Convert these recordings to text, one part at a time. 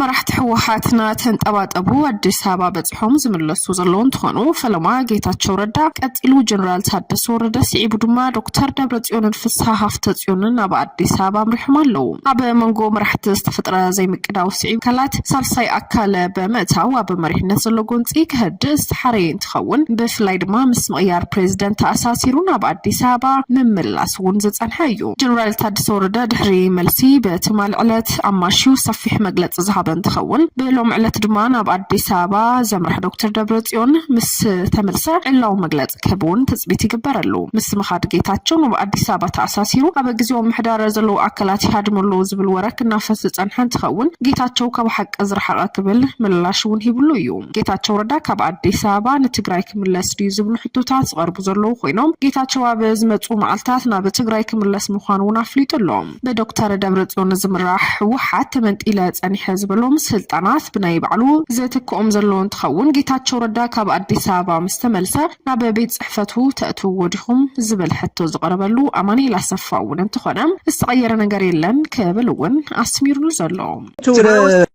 መራሕቲ ህወሓትና ተንጠባጠቡ ኣዲስ ኣበባ ሖም ዝምለሱ ዘለዉ እንትኾኑ ፈለማ ጌታቸው ረዳ ቀፂሉ ጀነራል ታደሰ ወረደ ስዒቡ ድማ ዶክተር ደብረፅዮንን ፍስሃ ሃፍተፅዮንን ናብ ኣዲስ ኣበባ ኣምሪሖም ኣለዉ። ኣብ መንጎ መራሕቲ ዝተፈጥረ ዘይምቅዳው ስዒቡ ኣካላት ሳልሳይ ኣካል ብምእታው ኣብ መሪሕነት ዘሎ ጎንፂ ክሀድእ ዝተሓረየ እንትኸውን ብፍላይ ድማ ምስ ምቕያር ፕሬዝደንት ተኣሳሲሩ ናብ ኣዲስ ኣበባ ምምላስ እውን ዝፀንሐ እዩ። ጀነራል ታደሰ ወረደ ድሕሪ መልሲ ብትማል ዕለት ኣማሽዩ ሰፊሕ መግለፂ ዝሃበ እንትኸውን ብሎሚ ዕለት ድማ ናብ ኣዲስ ኣበባ ዘምርሐ ዶክተር ደብረፅዮን ምስ ተመልሰ ዕላዊ መግለፂ ክህብ እውን ትፅቢት ይግበረሉ። ምስ ምኻድ ጌታቸው ናብ ኣዲስ ኣበባ ተኣሳሲሩ ኣብ ግዚያዊ ምምሕዳር ዘለዉ ኣካላት ይሃድሙ ኣለዉ ዝብል ወረ ክናፈስ ዝፀንሐ እንትኸውን ጌታቸው ካብ ሓቂ ዝረሓቐ ክብል ምላሽ እውን ሂብሉ እዩ። ጌታቸው ረዳ ካብ ኣዲስ ኣበባ ንትግራይ ክምለስ ድዩ ዝብሉ ሕቶታት ዝቐርቡ ዘለዉ ኮይኖም ጌታቸው ኣብ ዝመፅኡ መዓልታት ናብ ትግራይ ክምለስ ምዃኑ እውን ኣፍሊጡ ኣሎ። ብዶክተር ደብረፅዮን ዝምራሕ ህወሓት ተመንጢለ ፀኒሐ ዝበሎም ስልጣናት ብናይ ባዕሉ ዝትክኦም ዘሎ እንትኸውን ጌታቸው ረዳ ካብ ኣዲስ ኣበባ ምስተመልሰ ናብ ቤት ፅሕፈቱ ተእትውዎ ዲኹም ዝብል ሕቶ ዝቐረበሉ ኣማኒኤል ኣሰፋ እውን እንተኾነ ዝተቐየረ ነገር የለን ክብል እውን ኣስሚሩሉ ዘሎ እቲ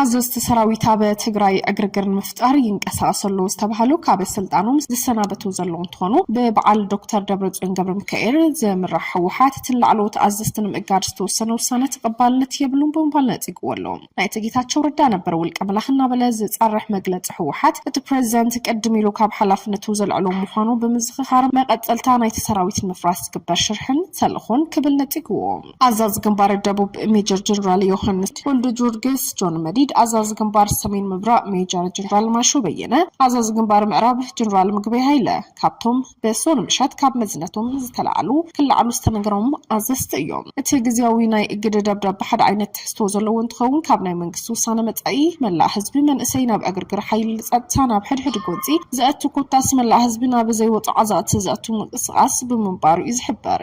ኣዘዝቲ ሰራዊት ኣብ ትግራይ ዕግርግር ንምፍጣር ይንቀሳቀሱ ኣለዉ ዝተባሃሉ ካብ ስልጣኖም ዝሰናበቱ ዘለዉ እንትኾኑ ብበዓል ዶክተር ደብረፅዮን ገብረ ሚካኤል ዝምራሕ ህወሓት እቲ ላዕለዎት ኣዘዝቲ ንምእጋድ ዝተወሰነ ውሳነ ተቐባልነት የብሉን ብምባል ነፂግዎ ኣሎ ናይቲ ጌታቸው ረዳ ነበር ውልቀ መላኽ እናበለ ዝፀርሕ መግለፂ ህወሓት እቲ ፕሬዚደንት ቅድም ኢሉ ካብ ሓላፍነቱ ዘልዕሎ ምዃኑ ብምዝኽኻር መቐፀልታ ናይቲ ሰራዊት ንምፍራስ ዝግበር ሽርሕን ተልእኾን ክብል ነፂግዎ ኣዛዚ ግንባር ደቡብ ሜጀር ጀነራል ዮሃንስ ወልደጆርጌስ፣ ጆን መዲድ፣ ኣዛዚ ግንባር ሰሜን ምብራቕ ሜጀር ጀነራል ማሾ በየነ፣ ኣዛዚ ግንባር ምዕራብ ጀነራል ምግበይ ሃይለ፣ ካብቶም ብሶኒ ምሸት ካብ መዝነቶም ዝተላዕሉ ክለዓሉ ዝተነገሮም ኣዘዝቲ እዮም። እቲ ግዝያዊ ናይ እግደ ደብዳበ ሓደ ዓይነት ትሕዝቶ ዘለዎ እንትኸውን፣ ካብ ናይ መንግስቲ ውሳነ መጻኢ መላእ ህዝቢ መንእሰይ ናብ ዕግርግር ሓይሊ ጸጥታ ናብ ሕድሕድ ጎንጺ ዘእቱ ኮታስ መላእ ህዝቢ ናብ ዘይወጾ ዓዘቕቲ ዘእቱ ምንቅስቓስ ብምንባሩ'ዩ ዝሕበር።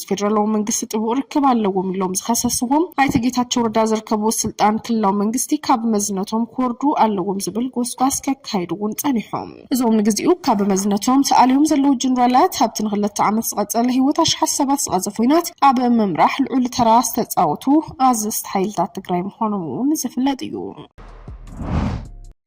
ምስ ፌደራላዊ መንግስቲ ጥቡቕ ርክብ ኣለዎም ኢሎም ዝኸሰስዎም ኣይተ ጌታቸው ረዳ ዝርከብዎ ስልጣን ክልላዊ መንግስቲ ካብ መዝነቶም ክወርዱ ኣለዎም ዝብል ጎስጓስ ከካይዱ እውን ፀኒሖም። እዞም ንግዚኡ ካብ መዝነቶም ተኣልዮም ዘለዉ ጀነራላት ኣብቲ ንክለተ ዓመት ዝቐፀለ ህይወት ኣሽሓት ሰባት ዝቐዘፈ ኹናት ኣብ ምምራሕ ልዑል ተራ ዝተፃወቱ ኣዘዝቲ ሓይልታት ትግራይ ምዃኖም እውን ዝፍለጥ እዩ።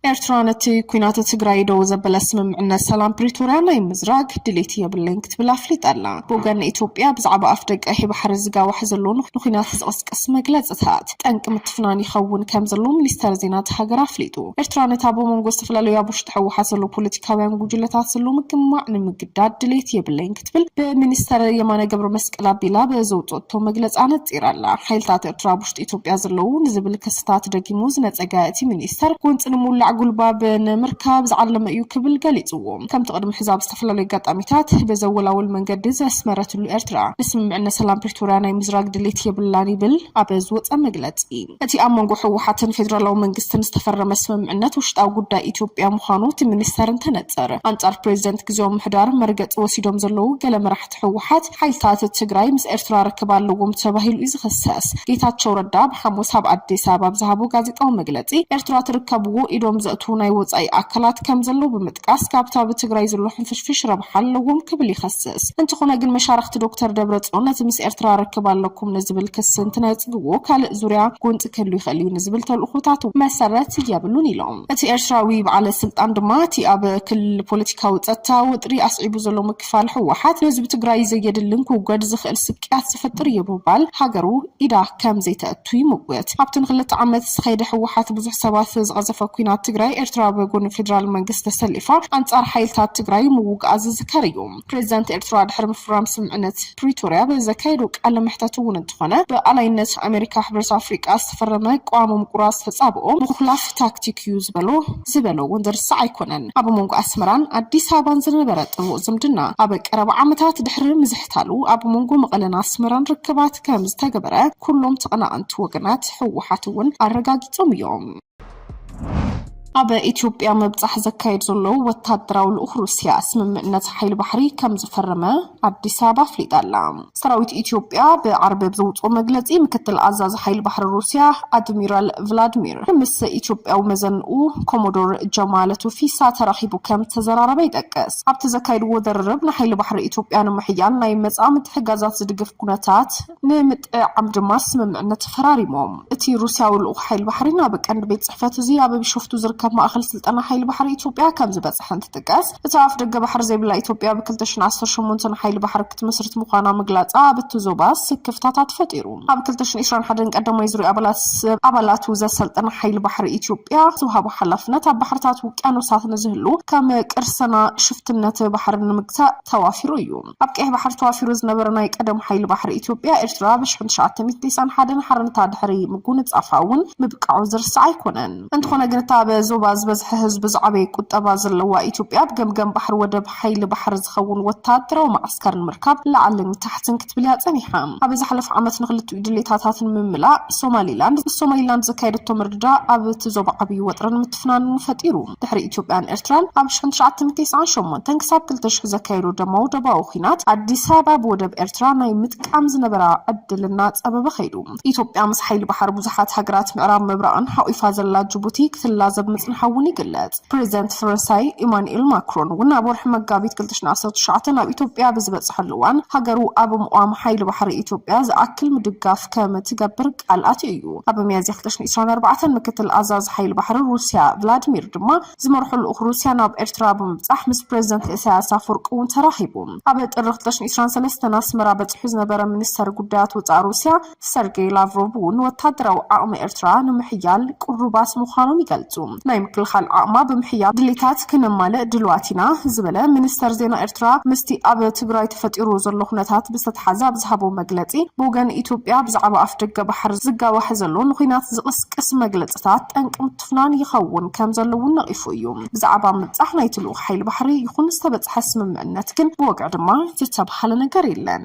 ኤርትራ ነቲ ኲናት ትግራይ ደው ዘበለ ስምምዕነት ሰላም ፕሪቶርያ ናይ ምዝራግ ድሌት የብለይን ክትብል ኣፍሊጣ ኣላ። ብወገን ኢትዮጵያ ብዛዕባ ኣፍደገ ቀይሕ ባሕሪ ዝጋዋሕ ዘሎ ንኲናት ዝቕስቅስ መግለጽታት፣ ጠንቂ ምትፍናን ይኸውን ከም ዘሎ ሚኒስተር ዜና እታ ሃገር ኣፍሊጡ። ኤርትራ ነታ ብመንጎ ዝተፈላለዩ ኣብ ውሽጢ ህወሓት ዘለዉ ፖለቲካውያን ጉጅለታት ዘሎ ምግማዕ ንምግዳድ ድሌት የብለይን ክትብል ብሚኒስተር የማነ ገብረመስቀል ኣቢላ ብዘውጸኦቶ መግለጺ ኣነጺራ ኣላ። ሓይልታት ኤርትራ ኣብ ውሽጢ ኢትዮጵያ ዘለዉ ንዝብል ክስታት ደጊሙ ዝነጸገ እቲ ሚኒስተር፣ ጎንጺ ንምውላዕ ጉልባብ ንምርካብ ዝዓለመ እዩ ክብል ገሊጽዎ። ከምቲ ቅድሚ ሕዚ ኣብ ዝተፈላለዩ ኣጋጣሚታት ብዘወላውል መንገዲ ዘስመረትሉ ኤርትራ ንስምምዕነት ሰላም ፕሪቶርያ ናይ ምዝራግ ድሌት የብላን ይብል ኣብ ዝወጸ መግለጺ። እቲ ኣብ መንጎ ህወሓትን ፌደራላዊ መንግስትን ዝተፈረመ ስምምዕነት ውሽጣዊ ጉዳይ ኢትዮጵያ ምዃኑ እቲ ሚኒስተር እንትነጽር፣ ኣንጻር ፕሬዚደንት ግዝያዊ ምምሕዳር መርገጺ ወሲዶም ዘለዉ ገለ መራሕቲ ህወሓት፣ ሓይልታት ትግራይ ምስ ኤርትራ ርክብ ኣለዎም ተባሂሉ'ዩ ዝኽሰስ። ጌታቸው ረዳ ብ ሓሙስ ኣብ ኣዲስ ኣበባ ኣብ ዝሃቦ ጋዜጣዊ መግለጺ፣ ኤርትራ ትርከብዎ ኢዶም ዘእትዉ ናይ ወጻኢ ኣካላት ከምዘለዉ ብምጥቃስ፣ ካብ'ቲ ኣብ ትግራይ ዘሎ ሕንፍሽፍሽ ረብሓ ኣለዎም ክብል ይኸስስ። ይጠቅስ። እንተኾነ ግን መሻርኽቲ ዶክተር ደብረፅዮን ነቲ ምስ ኤርትራ ርክብ ኣለኩም ንዝብል ክሲ እንትነፅግዎ ካልእ ዙርያ ጎንፂ ክህሉ ይኽእል እዩ ንዝብል ተልእኾታቱ መሰረት የብሉን ኢሎም። እቲ ኤርትራዊ በዓለ ስልጣን ድማ እቲ ኣብ ክልል ፖለቲካዊ ፀጥታ ወጥሪ ኣስዒቡ ዘሎ ምክፋል ህወሓት ንህዝቢ ትግራይ ዘየድልን ክውገድ ዝኽእል ስቅያት ዝፈጥር እዩ ብምባል ሃገሩ ኢዳ ከምዘይተእቱ ቱ ይምጉት። ኣብቲ ንክልተ ዓመት ዝኸይደ ህወሓት ብዙሕ ሰባት ዝቐዘፈ ኲናት ትግራይ፣ ኤርትራ ኣብ ጎኒ ፌደራል መንግስቲ ተሰሊፋ ኣንጻር ሓይልታት ትግራይ ምውግኣ ዝዝከር እዩ። ፕሬዚዳንት ኤርትራ ድሕሪ ምፍራም ስምምዕነት ፕሪቶርያ ብዘካየዶ ቃለ መሕተት እውን እንተኾነ ብኣላይነት ኣሜሪካ ሕብረት ኣፍሪቃ ዝተፈረመ ቅዋም ምቁራጽ ተጻብኦ ምኹላፍ ታክቲክ እዩ ዝበሎ ዝበሎ እውን ዝርሳዕ ኣይኮነን። ኣብ መንጎ ኣስመራን ኣዲስ ኣበባን ዝነበረ ጥቡቕ ዝምድና ኣብ ቀረባ ዓመታት ድሕሪ ምዝሕዛግ፣ ትካሉ ኣብ መንጎ መቐለን ኣስመራን ርክባት ከም ዝተገበረ ኩሎም ተቐናቐንቲ ወገናት ህወሓት እውን ኣረጋጊፆም እዮም። ኣብ ኢትዮጵያ ምብጻሕ ዘካየድ ዘሎ ወታደራዊ ልኡኽ ሩስያ ስምምዕነት ሓይሊ ባሕሪ ከም ዝፈረመ ኣዲስ ኣበባ ኣፍሊጣ ኣላ። ሰራዊት ኢትዮጵያ ብዓርቢ ኣብ ዘውፅኦ መግለፂ ምክትል ኣዛዚ ሓይሊ ባሕሪ ሩስያ ኣድሚራል ቭላድሚር ምስ ኢትዮጵያዊ መዘንኡ ኮሞዶር ጀማለ ቱፊሳ ተራኺቡ ከም ዝተዘራረበ ይጠቅስ። ኣብቲ ዘካየድዎ ዝርርብ ንሓይሊ ባሕሪ ኢትዮጵያ ንምሕያል ናይ መጻ ምትሕጋዛት ዝድግፍ ኩነታት ንምጥዕዓም ድማ ስምምዕነት ተፈራሪሞም። እቲ ሩስያዊ ልኡኽ ሓይሊ ባሕሪ ናብ ቀንዲ ቤት ጽሕፈት እዚ ኣብ ቢሾፍቱ ዝርከብ ማእከል ስልጠና ሓይሊ ባሕሪ ኢትዮጵያ ከም ዝበጽሐ እንትጥቀስ፣ እታ ኣፍደገ ባሕሪ ዘይብላ ኢትዮጵያ ብ ክልተ ሽሕን ዓሰርተ ሸሞንተን ሓይሊ ባሕሪ ክትምስርት ምዃና ምግላጻ ኣብቲ ዞባ ስክፍታታት ፈጢሩ። ኣብ ክልተ ሽሕን ዕስራን ሓደን ቀዳማይ ዙርያ ኣባላት ሰብ ኣባላቱ ዘሰልጠነ ሓይሊ ባሕሪ ኢትዮጵያ ዝውሃቦ ሓላፍነት ኣብ ባሕርታት ውቅያኖሳት ንዝህሉ ከም ቅርስና ሽፍትነት ባሕሪ ንምግታእ ተዋፊሩ እዩ። ኣብ ቀይሕ ባሕሪ ተዋፊሩ ዝነበረ ናይ ቀደም ሓይሊ ባሕሪ ኢትዮጵያ ኤርትራ ኣብ ሽሕን ትሽዓተ ሚእቲ ቴስዓን ሓደን ሓርነታ ድሕሪ ምጉንጻፋ እውን ምብቃዑ ዝርሳዕ ኣይኮነን። እንተኾነ ግን እታ ኣብ ዞባ ዝበዝሐ ህዝቢ ዝዓበየ ቁጠባ ዘለዋ ኢትዮጵያ ኣብ ገምገም ባሕሪ ወደብ ሓይሊ ባሕሪ ዝኸውን ወተሃደራዊ መዓስከር ንምርካብ ላዕልን ታሕትን ክትብል'ያ ጸኒሓ። ኣብ ዝሓለፈ ዓመት ንኽልቲኡ ድሌታታት ንምምላእ ሶማሊላንድ ምስ ሶማሊላንድ ዘካየደቶ ምርድዳእ ኣብ'ቲ ዞባ ዓብዪ ወጥርን ምትፍናንን ፈጢሩ። ድሕሪ ኢትዮጵያን ኤርትራን ኣብ ሽሕን ትሽዓተን ቴስዓን ሸሞንተን ክሳብ ክልተ ሽሕ ዘካየድኦ ደማዊ ዶባዊ ኲናት፣ ኣዲስ ኣበባ ብወደብ ኤርትራ ናይ ምጥቃም ዝነበራ ዕድል እናጸበበ ከይዱ። ኢትዮጵያ ምስ ሓይሊ ባሕሪ ብዙሓት ሃገራት ምዕራብ ምብራቕን ሓቝፋ ዘላ ጅቡቲ ክትላዘብ ምጽንሓ'ውን ይግለጽ። ፕሬዚደንት ፈረንሳይ ኢማኑኤል ማክሮን እውን ኣብ ወርሒ መጋቢት ክልተ ሽሕን ዓሰርተ ትሽዓተ ናብ ኢትዮጵያ ብዝበፀሐሉ እዋን ሃገሩ ኣብ ምቛም ሓይሊ ባሕሪ ኢትዮጵያ ዝኣክል ምድጋፍ ከምትገብር ቃል ኣትዩ እዩ። ኣብ ሚያዝያ ክልተ ሽሕን ዕስራን ኣርባዕተን ምክትል ኣዛዚ ሓይሊ ባሕሪ ሩሲያ ቭላድሚር ድማ ዝመርሖ ልኡኽ ሩሲያ ናብ ኤርትራ ብምብፃሕ ምስ ፕሬዚደንት ኢሳያስ ኣፈወርቂ እውን ተራኺቡ። ኣብ ጥሪ ክልተ ሽሕን ዕስራን ሰለስተን ኣስመራ በፂሑ ዝነበረ ሚኒስተር ጉዳያት ወፃኢ ሩሲያ ሰርጌይ ላቭሮቭ እውን ወታደራዊ ዓቕሚ ኤርትራ ንምሕያል ቅሩባት ምዃኖም ይገልጹ። ናይ ምክልኻል ዓቕማ ብምሕያል ድሌታት ክነማልእ ድሉዋት ኢና ዝበለ ሚኒስተር ዜና ኤርትራ ምስቲ ኣብ ትግራይ ተፈጢሩ ዘሎ ኩነታት ብዝተትሓዘ ኣብ ዝሃቦ መግለጺ ብወገን ኢትዮጵያ ብዛዕባ ኣፍደገ ባሕር ዝጋዋሕ ዘሎ ንኩናት ዝቕስቅስ መግለጽታት ጠንቂ ምትፍናን ይኸውን ከምዘሎ እውን ነቒፉ እዩ። ብዛዕባ ምብጻሕ ናይቲ ልኡኽ ሓይሊ ባሕሪ ይኹን ዝተበጽሐ ስምምዕነት ግን ብወግዒ ድማ ዝተብሃለ ነገር የለን።